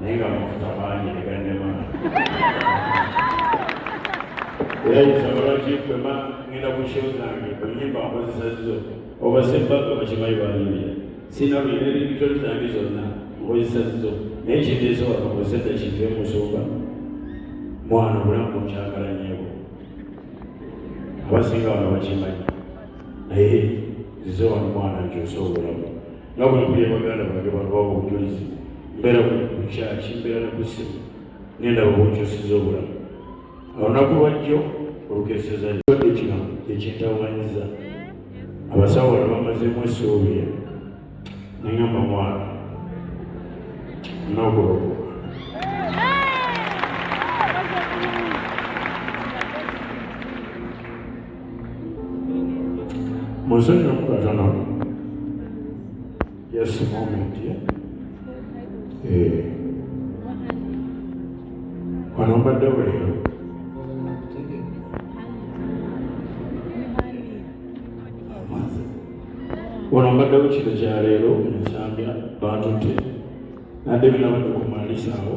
naye nga amafuta mangi negannema era nsaba lwaki kwema ngenda ku show zange onyimba nkozesa zizo oba sebbaga bakimayi banyumira sina buyina ebitoni zange zonna nkozesa zizo naye kindeese wano kozesa kintu emusumba mwana obulamu bunkyagala nyebo abasinga wano bakimanyi naye zizo wano mwana nkyusa obulamu nga bwe mpulira baganda bange bano baba obujulizi mbeera ku kyaki mbeera ne kusimu nenda babukyusiza obulamu olunaku lwajjo olukeseza ekibadde kino ekintawanyiza abasawo bano bamazemu esuubi nengamba mwana nokulokoka Monseigneur Mukatana, just a moment, yeah? Eh. Wano mbadde weero. Wano mbaddewo kino kya leero mu Zambia bantu te. Nadde binabadde ku malisaawo.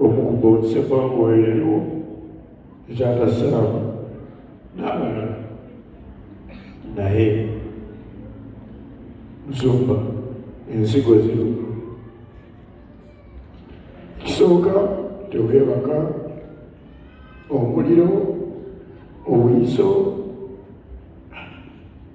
okukubuutse kwa mwoyo yaliwo ekyatasaamu n'abalala naye zumba ensigo zino ekisooka teweebaka omuliro obuyiso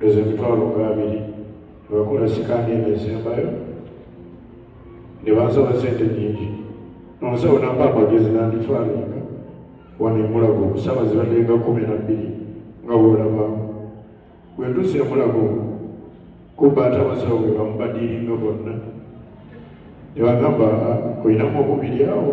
ezo emitwalo nga abiri nebagula sikaani eno esembayo ne bansaba sente nyingi nonsawo namba amagezi nandifaninga wano emulago okusaba zibaddenga kumi na bbiri nga bwolabaamu bwentusa emulago kubba ate abasawo bwe bamubadiiringa bonna nebagamba ah, olinamu okubiri awo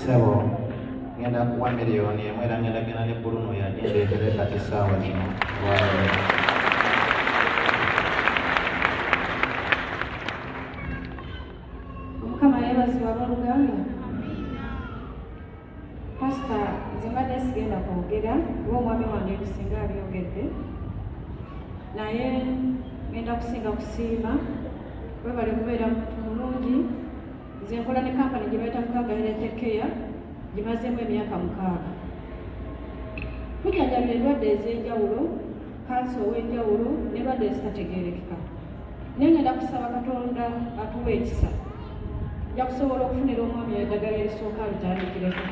sebo ngenda kuwa miliyoni emu era ngenda genda ne buluno yagendeetere kati saawa zino mukama yebazibwa boluganda pasita nze mbadde sigenda kwogera kuba omwami wange bisinga abyogedde naye ngenda kusinga kusiima webale kubeera muntu mulungi nze nkola ne kampani gye bayita fukagalira tekeya gimazeemu emyaka mukaaga tujjanjabira endwadde ez'enjawulo kansa ow'enjawulo n'endwadde ezitategeerekeka naye ngenda kusaba katonda atuwa ekisa nja kusobola okufunira omwami eddagala erisooka alitandikireko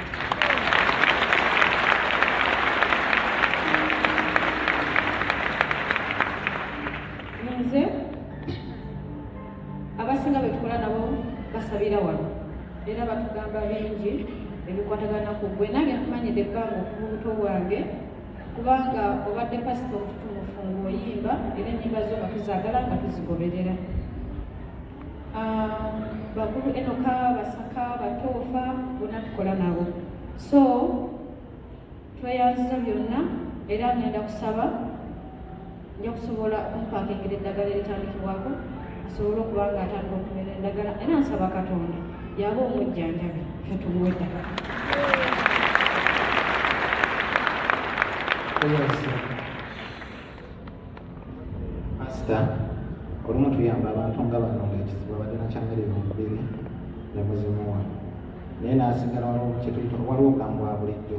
abasinga betukola nabo basabira wano era batugamba bingi ebikwatagana ku gwe nange nkumanyidde ebbanga okuva obuto bwange kubanga obadde pasita omututumufu ngaoyimba era enyimba zo nga tuzagala nga tuzigoberera ah, bakulu enoka basaka batoofa bona tukola nabo so tweyanziza byonna era ngenda kusaba nja kusobola okumpakingila eddagala eritandikibwako asobole okuba nga atandika okumira endagala era nsaba katonda yaba omujjanjabi fe tumuwa eddagala asita olumu tuyamba abantu nga bano nga ekizibu abadde nakyamere yomubiri nemuzimuwa naye nasigala waliwo kyetuyita waliwo kambwa bulijjo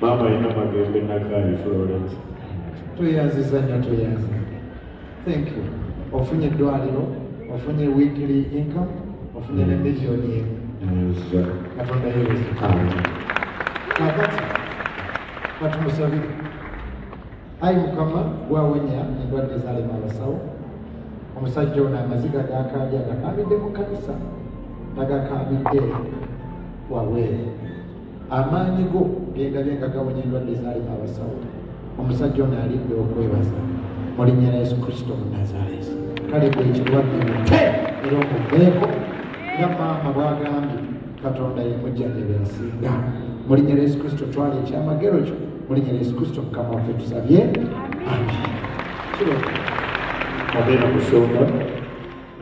Maama alina magembe nakaayi Florence. Tweyanziza nnyo tweyanziza. Thank you. Ofunye eddwaliro, ofunye weekly income, ofunye ne million emu. Katonda yeebazibwe. Kakati katumusabire. Ayi Mukama gwawenya endwadde zaalema abasawo. Omusajja ono amaziga gaakaabye agakaabidde mu kkanisa, tagakaabidde wabweru. amaanyi go gendabye nga gawonya endwadde ezaalima abasawo omusajja ono alidde okwebaza mu linnya lya yesu kristo munazaleesi kale gwe ekirwadde mute era omuveeko nga maama bwagambye katonda yemujjanjabi asinga mu linnya lya yesu kristo twala ekyamagero kyo mu linnya lya yesu kristo mukama waffe tusabye ami kiro abeera kusonga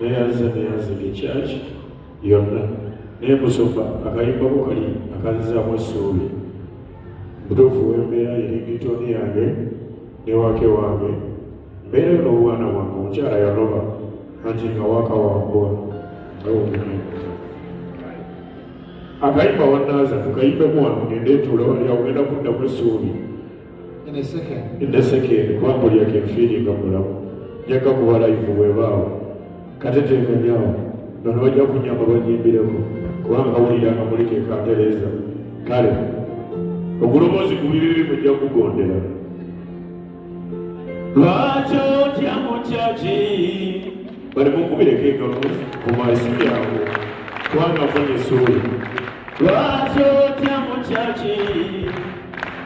neyanze neyanze ekyaki yonna naye musumba akayimbako kali akanzizaamu essuubi butuufu wembeera yeringitoni yange newake wange mbeerayo n'obwana bwange omukyala yaloba anti nga wakawambwa akayimba wanaaza tukayimbemu wano ngendeetuula wali agenda kuddamu essuubi in a second in a second kwambo lya ke fili nga mulamu yaka kuba live we bawo katete nganyawo nono wajja kunyamba banyimbire ko kwanga wuli ya kamuli ke kandeleza kale okulomozi kubibi bi mujja kugondera lwacho tya muchachi bali mukubire ke kamu kumaisi yangu kwanga fanye suri lwacho tya muchachi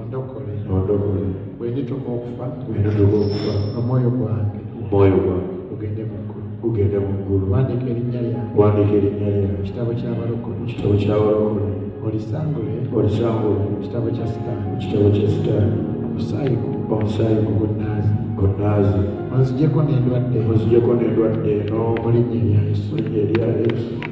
ondokole ondokole bwenituka okufa bwenituka okufa omwoyo gwange omwoyo gwange ugende mu ggulu ugende mu ggulu wandika erinnya lyange wandika erinnya lyange kitabo ky'abalokole kitabo ky'abalokole olisangule olisangule kitabo kya sitaani kitabo kya sitaani omusaayi omusaayi ku bunnaazi bunnaazi onzijeko n'endwadde onzijeko n'endwadde eno mu linnya erya yesu erya yesu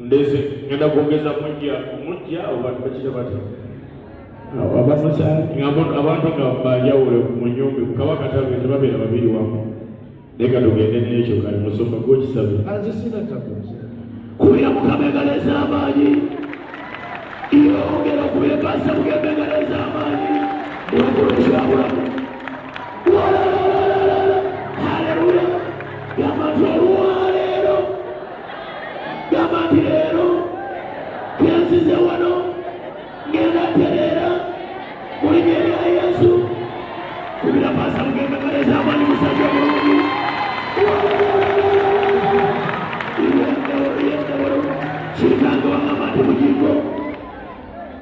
ndeze ngenda kwongeza mujja mujja abantu bakira bati abatusa abantu nga banjawulo mu nyumba kabaka tabe tebabeera babiri wamu leka tugende nekyo kali musumba gwokisabe kubira mukabegala ez'amaanyi yongera okubekasa mukabegala ez'amaanyi mukulukirabulamu walala gamba nti leero kyenzize wano ngenda tereera mulinya erya yesu kubira pasa mugembekereza amani musajja mulungi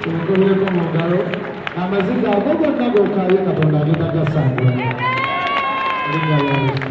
Tumukubyeko mu ngalo amaziga ago gonna gokaayo Katonda agenda gasangula. Erinnya lya Yesu.